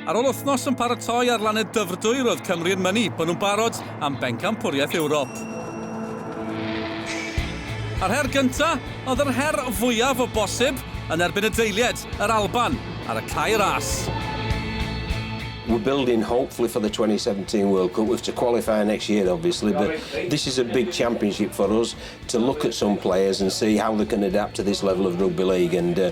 Ar ôl wythnos yn paratoi ar lannau Dyfrdwy, roedd Cymru yn mynnu bod nhw'n barod am bencampwriaeth Ewrop. A'r her gyntaf oedd yr her fwyaf o bosib yn erbyn y deilied, yr Alban, ar y cae ras. We're building hopefully for the 2017 World Cup. We've to qualify next year obviously, but this is a big championship for us to look at some players and see how they can adapt to this level of rugby league and uh,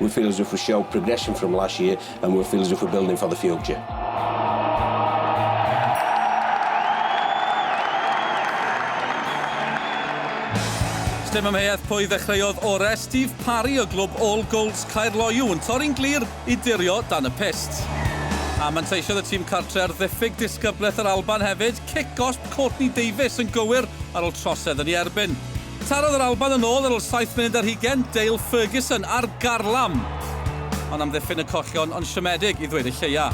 We feel as if we show progression from last year and we feel as if we're building for the future. Stem amheuaeth pwy ddechreuodd orau, Steve Parry o glwb All Golds Caerloyw yn torri'n glir i dirio dan y pyst. A manteisiodd y tîm cartre ar ddiffyg disgyblaeth yr Alban hefyd, cic gosb Courtney Davies yn gywir ar ôl trosedd yn ei erbyn. Tarodd yr Alban yn ôl ar ol saith munud ar hugen, Dale Ferguson ar garlam yn amddiffyn y collion yn siomedig i ddweud y lleia.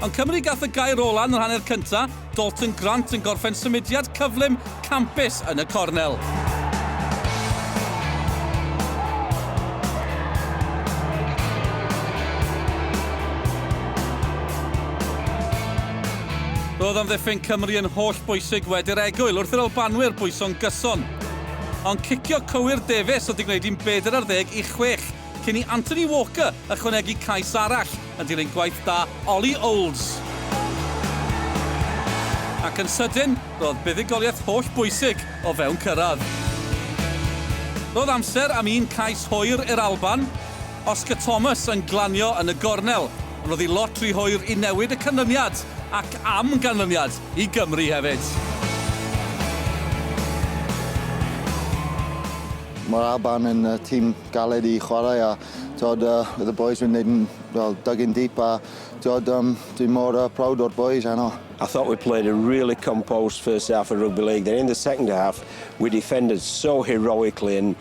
Ond Cymru gath y gair ola yn yr hanner cynta, Dalton Grant yn gorffen symudiad cyflym campus yn y cornel. Roedd amddiffyn Cymru yn holl bwysig wedi'r egwyl wrth i'r Albanwyr bwyso'n gyson. Ond cicio cywir Davies oedd 'di gwneud hi'n bedair ar ddeg i chwech cyn i Anthony Walker ychwanegu cais arall yn dilyn gwaith da Ollie Olds. Ac yn sydyn, roedd buddugoliaeth holl bwysig o fewn cyrraedd. Roedd amser am un cais hwyr i'r Alban, Oscar Thomas yn glanio yn y gornel. Ond oedd hi lot rhy hwyr i newid y canlyniad, ac am ganlyniad i Gymru hefyd. Mae'r Alban yn tîm galed i chwarae a tywed, oedd y bois yn neud fel dug in deep a tywed, dwi mor proud o'r bois heno. I thought we played a really composed first half of Rugby League, then in the second half we defended so heroically and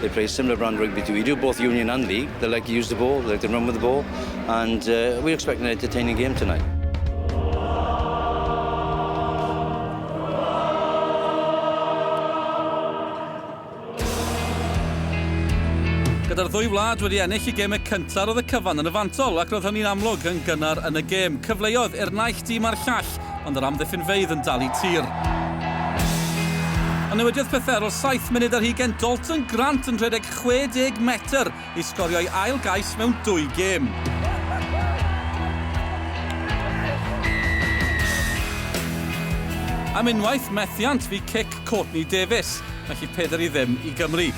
They play a similar brand rugby to we do, both union and league. They like to use the ball, they like to run with the ball, and uh, we expect an entertaining game tonight. Gyda'r ddwy wlad wedi ennill y gemau cyntaf oedd y cyfan yn y fantol ac roedd hynny'n amlwg yn gynnar yn y gêm. Cyfleodd i'r naill dîm a'r llall ond yr amddiffynfeydd yn dal i tir. A newidiodd pethau ar ôl saith munud ar hugain Dalton Grant yn rhedeg 60 metr i sgorio'i ail gais mewn dwy gêm. Am unwaith, methiant fu cic Courtney Davies, mae hi peder i ddim i Gymru.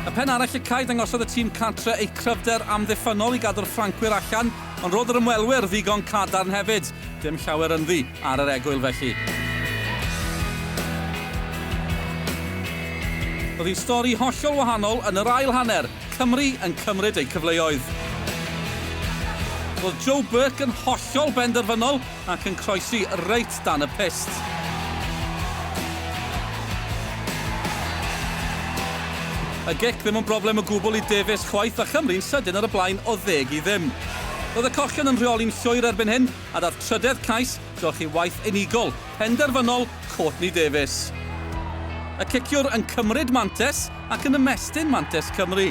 Y pen arall y cae dangosodd y tîm cartre eu cryfder amddiffynnol i gadw'r Ffrancwyr allan Ond roedd yr ymwelwyr ddigon cadarn hefyd, dim llawer ynddi ar yr egwyl felly. Roedd hi'n stori hollol wahanol yn yr ail hanner, Cymru yn cymryd eu cyfleoedd. Roedd Joe Burke yn hollol benderfynol ac yn croesi reit dan y pyst. Y gic ddim yn broblem o gwbl i Davies chwaith a Chymru'n sydyn ar y blaen o ddeg i ddim. Roedd y cochion yn rheoli'n llwyr erbyn hyn a daeth trydedd cais drochi waith unigol, penderfynol, Courtney Davies. Y ciciwr yn cymryd mantes ac yn ymestyn mantais Cymru.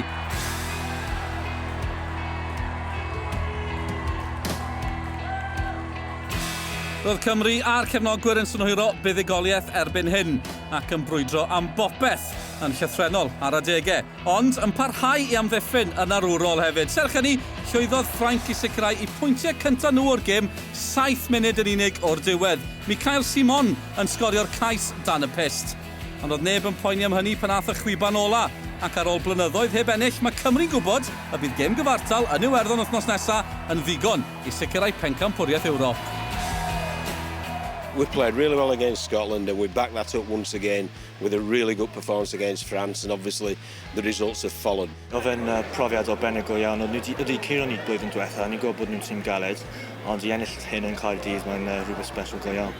Roedd Cymru a'r cefnogwyr yn synhwyro buddugoliaeth erbyn hyn ac yn brwydro am bopeth yn llythrenol ar adegau, ond yn parhau i amddiffyn yn arwrol hefyd. Serch hynny, llwyddodd Ffrainc i sicrhau y pwyntiau cyntaf nhw o'r gêm saith munud yn unig o'r diwedd. Mickaël Simon yn sgorio'r cais dan y pyst. Ond oedd neb yn poeni am hynny pan ath y chwiban ola', ac ar ôl blynyddoedd heb ennill, mae Cymru'n gwybod y bydd gêm gyfartal yn Iwerddon wythnos nesa' yn ddigon i sicrhau pencampwriaeth Ewrop. We played really well against Scotland and we backed that up once again with a really good performance against France and obviously the results have followed. Oedd e'n profiad arbennig go iawn. Oedd ni 'di curo ni blwyddyn diwetha', ni'n gwybod bod nhw'n tîm galed, ond i ennill hyn yn Caerdydd mae'n rhywbeth sbesial go iawn.